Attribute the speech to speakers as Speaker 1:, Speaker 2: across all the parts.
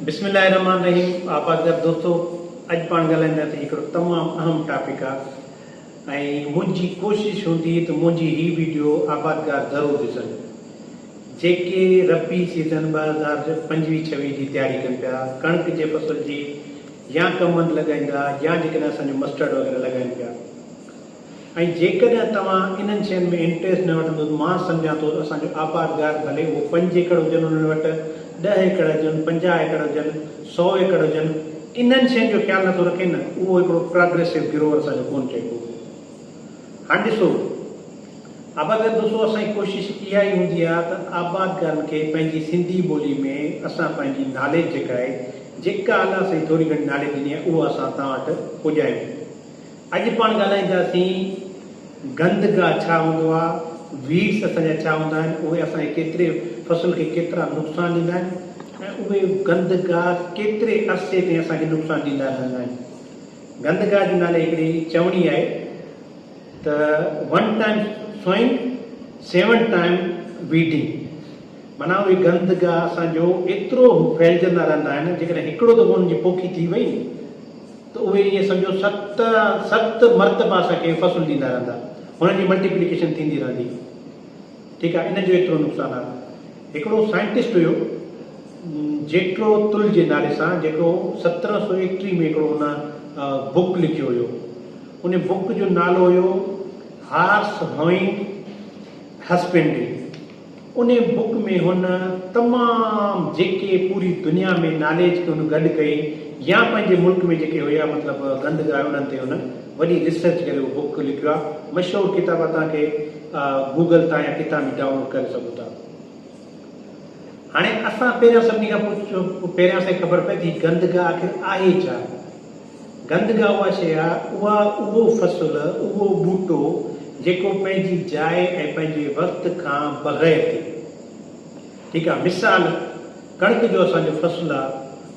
Speaker 1: بسم الله الرحمٰن الرحيم آبادگار دوستو اڄ پاڻ ڳالهائينداسين هڪڙو تمام اهم ٽاپڪ آ ۽ منهنجي ڪوشش هوندي ته منهنجي هي ويڊيو آبادگار ضرور ڏسن جيڪي ربي سيزن ٻه هزار پنجويهه ڇويهه جي تياري ڪن پيا ڪڻڪ جي فصل جي يا ڪمند لڳائيندا يا جيڪڏهن اسان جو مسٽرڊ وغيره لڳائين پيا ۽ جيڪڏهن توهان انهن شين ۾ انٽريسٽ نه وٺندو ته مان سمجهان ٿو ته اسان جو آبادگار ڀلي اهو پنج ايڪڙ هجن انهن وٽ ڏهه ايڪڙ هجن پنجاهه ايڪڙ هجن سؤ ايڪڙ هجن انهن شين جو خيال نه ٿو رکي نه اهو هڪڙو پراگريسو گروور اسان جو ڪونه چئبو هاڻ ڏسو آبادگار دوستو اسان جي ڪوشش اها ئي هوندي آهي ته آبادگارن کي پنهنجي سنڌي ٻولي ۾ اسان پنهنجي ناليج جيڪا آهي جيڪا الله سائين ٿوري گهڻي ناليج ڏني آهي اها اسان توهان وٽ پڄايون اڄ پاڻ ڳالهائينداسين گند گاهه ڇا هوندو آهي، Weeds اسان جا ڇا هوندا آهن، اهي اسان جي ڪيتري فصل کي ڪيترا نقصان ڏيندا آهن ۽ اهي گند گاهه ڪيتري عرصي تائين اسان کي نقصان ڏيندا رهندا آهن. گند گاهه جي نالي هڪڙي چوڻي آهي ته One time sowing Seven time weeding. منهن اهي گند ڳاهه اسان جو ايترو ڦهلجندا رهندا آهن جيڪڏهن هڪڙو دفعو انهن جي پوکي ٿي وئي ته اهي ائين سمجهو ست ست مرتبا اسان کي فصل ڏيندا رهندا هنن جي ملٽيپليڪيشن ٿيندي رهندي ٺيڪ آهي ان جو ايترو نقصان آهي هڪڙو سائنٽسٽ هيو جيٽرو تل جي نالي سان جيڪو سترهن سو ايڪٽيهه ۾ هڪڙو ان بڪ لکيو هيو ان بڪ جو نالو هيو هارس هوئنگ هسبنڊري ان بوڪ ۾ هن تمام جيڪي پوري دنيا ۾ ناليج کي هن گڏ ڪئي يا پنهنجي ملڪ ۾ جيڪي هيا مطلب گند گاهه انهن تي هن وڏي ريسرچ ڪري اهو بوڪ لکيو آهي مشهور ڪتاب آهي توهان کي گوگل تان يا ڪتان به ڊائون لوڊ ڪري سگهو ٿا هاڻي اسان پهريان سڀني کان پهريان اسان کي خبر پئي ته هي گند گاهه آخر آهي ڇا گندگا اها شيء آ، اها اهو فصل، اهو ٻوٽو جيڪو پنهنجي جاء ۽ پنهنجي وقت کان بغير ٿئي ٺيڪ آ، مثال ڪڻڪ جو اسان جو فصل آ،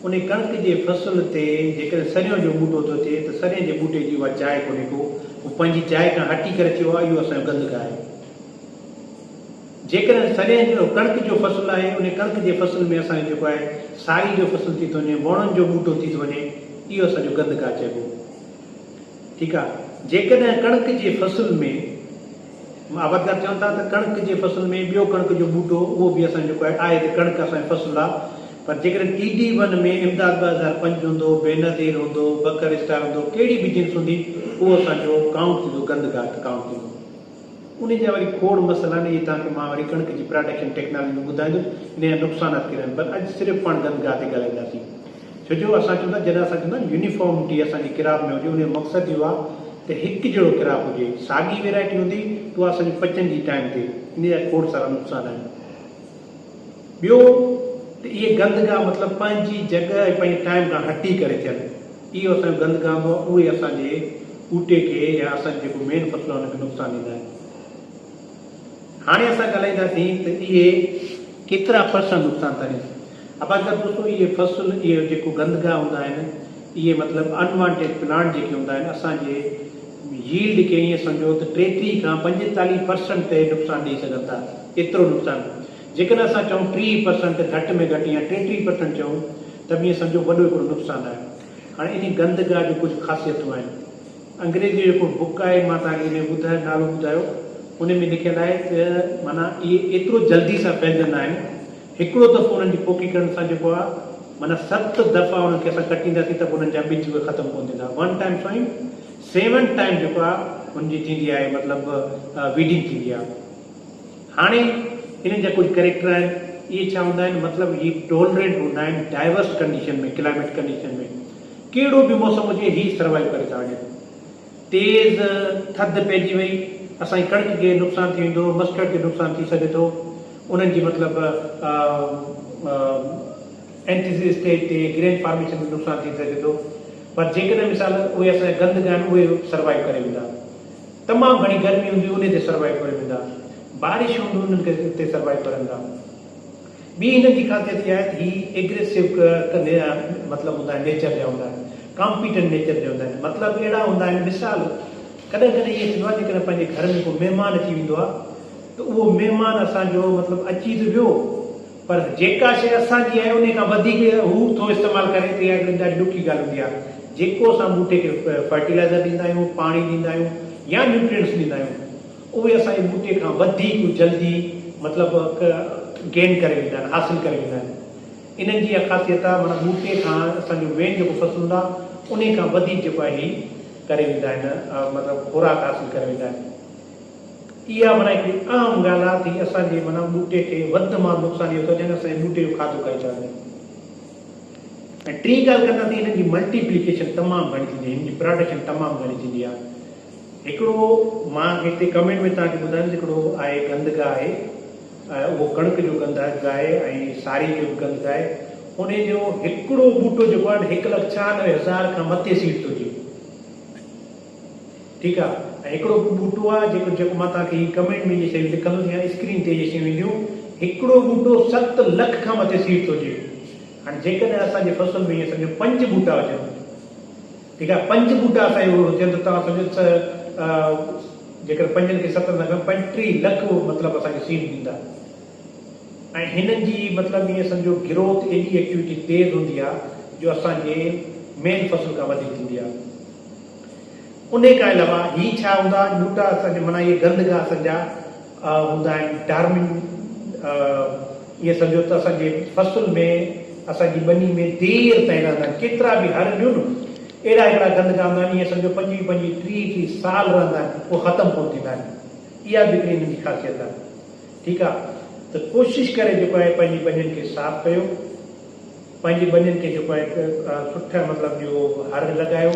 Speaker 1: انهي ڪڻڪ جي فصل تي جيڪڏهن سريون جو ٻوٽو ٿو ٿئي ته سرين جي ٻوٽي جي اها جاء ڪونهي ڪو، هو پنهنجي جاء کان هٽي ڪري ٿيو آ، اهو اسان جو گندگا آهي. جيڪڏهن سريهن جهڙو ڪڻڪ جو فصل آهي، انهي ڪڻڪ جي فصل ۾ اسان جو جيڪو آهي ساري جو فصل ٿي ٿو وڃي، ووڻن جو ٻوٽو ٿي ٿو وڃي، اهو اسان جو گند گاهه چئبو. ٺيڪ آ. جيڪڏهن ڪڻڪ جي فصل ۾ آبادگار چون ٿا ته ڪڻڪ جي فصل ۾ ٻيو ڪڻڪ جو ٻوٽو اهو به اسان جو جيڪو آهي، آهي ته ڪڻڪ اسان جو فصل آ، پر جيڪڏهن ٽي ڊي ون ۾ امداد ٻه هزار پنج هوندو، بينظير هوندو، بڪر اسٽار هوندو، ڪهڙي به جنس هوندي، اهو اسان جو ڪائونٽ ٿيندو، گند گاهه ڪائونٽ ٿيندو. انهي جا وري کوڙ مسئلا آهن، اهي توهان کي مان وري ڪڻڪ جي پراڊڪشن ٽيڪنالاجي ۾ ٻڌائيندم، انهي جا نقصانات ڪهڙا آهن، پر اڄ صرف پاڻ گند گاهه تي ڳالهائينداسين. ڇو جو اسان چون ٿا جڏهن اسان چون ٿا يونيفارمٽي اسان جي ڪراپ ۾ هجي، ان جو مقصد اهو آهي ته هڪ جهڙو ڪراپ هجي، ساڳي ويرائٽي هوندي ته اها اسان جي پچندي ٽائيم تي، انهي جا کوڙ سارا نقصان آهن. ٻيو ته اهي گند گاهه مطلب پنهنجي جڳهه ۽ پنهنجي ٽائيم کان هٽي ڪري ٿين، اهو اسان جو گند گام هئا اهي اسان جي ٻوٽي کي يا اسان جي جيڪو مين فصل آهي ان کي نقصان ڏيندا آهن. هاڻي اسان ڳالهائينداسين ته اهي ڪيترا پرسنٽ نقصان ٿا ڏين. آبادگار دوستو اهي فصل اهي جيڪو گند گاهه هوندا آهن اهي مطلب ان وانٽيڊ پلانٽ جيڪي هوندا آهن اسان جي ييلڊ کي ائين سمجهو ته ٽيٽيهه کان پنجيتاليهه پرسنٽ تائين نقصان ڏئي سگهن ٿا ايترو نقصان جيڪڏهن اسان چئون ٽيهه پرسنٽ گهٽ ۾ گهٽ يا ٽيٽيهه پرسنٽ چئون ته به ائين سمجهو وڏو هڪڙو نقصان آهي. هاڻي انهي گند گاهه جون ڪجهه خاصيتون آهن. انگريزيء جو هڪڙو بڪ آهي مان توهان کي انهي جو نالو ٻڌايو. انهي ۾ لکيل آهي ته معنيٰ اهي ايترو جلدي سان ڦهلجندا آهن. هڪڙو دفعو انهن جي پوکي ڪرڻ سان جيڪو آهي معنيٰ ست دفعا انهن کي اسان ڪٽينداسين ته به انهن جا ٻج اهي ختم ڪونه ٿيندا. One time sowing seven time جيڪو آهي ان جي ٿيندي آهي مطلب ويڊنگ ٿيندي آهي. هاڻي انهن جا ڪجهه ڪريڪٽر آهن اهي ڇا هوندا آهن مطلب هي ٽولرينٽ هوندا آهن ڊائيورس ڪنڊيشن ۾ ڪلائميٽ ڪنڊيشن ۾ ڪهڙو به موسم هجي هي سروائيو ڪري ٿا وڃن تيز ٿڌ پئجي وئي اسان جي ڪڻڪ کي نقصان ٿي ويندو مسٽرڊ کي نقصان ٿي سگهي ٿو انهن جي مطلب اينٽيز اسٽيج تي گرين فارميشن ۾ نقصان ٿي سگهي ٿو پر جيڪڏهن مثال اهي اسان جا گند گاهه آهن اهي سروائيو ڪري ويندا تمام گهڻي گرمي هوندي انهي تي سروائيو ڪري ويندا بارش هوندي انهن کي اتي سروائيو ڪرندا ٻي هنن جي خاصيت اها آهي ته هي ايگريسو مطلب هوندا آهن نيچر جا هوندا آهن ڪامپيٽنٽ نيچر جا هوندا آهن مطلب اهڙا هوندا آهن مثال ڪڏهن ڪڏهن ائين ٿيندو آهي جيڪڏهن پنهنجي گهر ۾ ڪو مهمان اچي ويندو آهي ته اهو مهمان اسان جو مطلب اچي ته ويو پر جيڪا شيء اسان جي آهي انهي کان وڌيڪ هو ٿو استعمال ڪري ته اها هڪڙي ڏاڍي ڏکي ڳالهه هوندي آهي جيڪو اسان ٻوٽي کي فرٽيلائزر ڏيندا آهيون پاڻي ڏيندا آهيون يا نيوٽرينٽس ڏيندا آهيون اهي اسان جي ٻوٽي کان وڌيڪ جلدي مطلب گين ڪري ويندا آهن حاصل ڪري ويندا آهن انهن جي اها خاصيت آهي معنيٰ ٻوٽي کان اسان جو مين جيڪو فصل هوندا انهي کان وڌيڪ جيڪو آهي هي ڪري ويندا آهن مطلب خوراڪ حاصل ڪري ويندا آهن. اها معنيٰ هڪڙي اهم ڳالهه آهي ته هي اسان جي معنيٰ ٻوٽي کي وڌ مان وڌ نقصان اهو ٿو ڏين اسان جي ٻوٽي جو کاڌو کائي ٿا وڃن ۽ ٽين ڳالهه ڪندا ته هنن جي ملٽي پليڪيشن تمام گهڻي ٿيندي آهي هنن جي پراڊڪشن تمام گهڻي ٿيندي آهي هڪڙو مان هتي ڪمينٽ ۾ توهان کي ٻڌايم ته هڪڙو آهي گند گاهه آهي اهو ڪڻڪ جو گند آهي گاهه ۽ ساري جو به گند گاهه آهي ان جو هڪڙو ٻوٽو جيڪو آهي نه هڪ لک ڇهانوي هزار کان مٿي سيڊ ٿو ڏي ٺيڪ آ ۽ هڪڙو ٻيو ٻوٽو آ جيڪو جيڪو مان توهان کي هي ڪمينٽ ۾ جي شيون لکندس يا اسڪرين تي جي شيون اينديون هڪڙو ٻوٽو ست لک کان مٿي سيڊ ٿو ڏي هاڻي جيڪڏهن اسان جي فصل ۾ ايئن سمجهو پنج ٻوٽا هجن ٺيڪ آ پنج ٻوٽا اسان جي هجن ته توهان سمجهو ته جيڪڏهن پنجن کي ستن سان گڻ پنجٽيهه لک مطلب اسان کي سيڊ ڏيندا ۽ هنن جي مطلب ايئن سمجهو گروٿ ايڏي ايڪٽيوٽي تيز هوندي آ جو اسان جي مين فصل کان وڌيڪ ٿيندي آ. انهي کان علاوه هي ڇا هوندا آهن ٻوٽا اسان جي معنيٰ اهي گند گاهه اسان جا هوندا آهن ڊارمن ائين سمجهو ته اسان جي فصل ۾ اسان جي ٻني ۾ دير تائين رهندا آهن ڪيترا به هر ڏيون نه اهڙا هڪڙا گند گاهه هوندا آهن ائين سمجهو پنجويهه پنجويهه ٽيهه ٽيهه سال رهندا آهن پوء ختم ڪونه ٿيندا آهن اها به هڪڙي انهن جي خاصيت آهي ٺيڪ آهي ته ڪوشش ڪري جيڪو آهي پنهنجي ٻنين کي صاف ڪيو. پنهنجي ٻنين کي جيڪو آهي سٺ مطلب جو هر لڳايو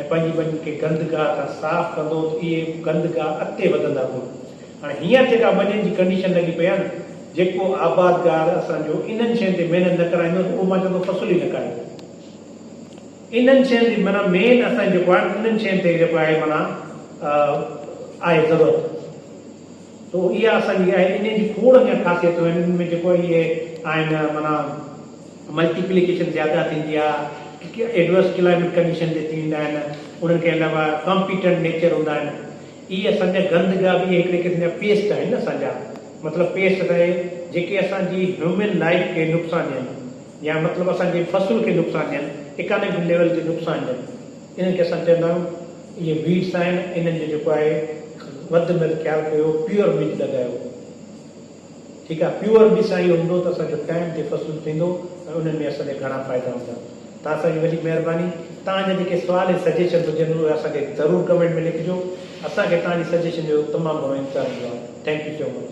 Speaker 1: ۽ پنهنجي ٻنين کي گند گاهه کان صاف ڪندو ته اهي گند گاهه اڳتي وڌندا ڪونه. هاڻي هينئر جيڪا ٻنين جي ڪنڊيشن لڳي پئي آهي نه جيڪو آبادگار اسان جو انهن شين تي محنت نه ڪرائيندو ته اهو مان چوان ٿو فصل ئي نه ڪاهيو انهن شين تي معنيٰ مين اسان جي جيڪو آهي انهن شين تي جيڪو آهي معنيٰ آهي ضرورت. تو اها اسان جي آهي انهن جي کوڙ اڃا خاصيتون آهن انهن ۾ جيڪو اهي آهن معنيٰ ملٽي پليڪيشن زياده ٿيندي آهي ايڊورس ڪلائميٽ ڪنڊيشن جي ٿيندا آهن انهن کي علاوه ڪامپيٽنٽ نيچر هوندا آهن اهي اسان جا گند جا به اهي هڪڙي قسم جا پيسٽ آهن نه اسان جا مطلب پيسٽ اسان جي جيڪي اسان جي هيومن لائف کي نقصان ڏين يا مطلب اسان جي فصل کي نقصان ڏين اڪانمڪ ليول تي نقصان ڏين. انهن کي اسان چوندا آهيون اهي ويڊس آهن انهن جو جيڪو آهي وڌ ۾ وڌ خيال ڪيو پيور ٻج لڳايو ٺيڪ آهي پيور ٻج سان اهو هوندو ته اسان جو ٽائيم تي فصل ٿيندو ۽ انهن ۾ اسان جا گهڻا فائدا هوندا ته اسان جي وڏي مهرباني توهان جا جيڪي سوال ۽ سجيشنس هجن اهي اسان کي ضرور ڪمينٽ ۾ لکجو اسان کي توهان جي سجيشن جو تمام گهڻو انتظار هوندو آهي ٿينڪ يو سو مچ.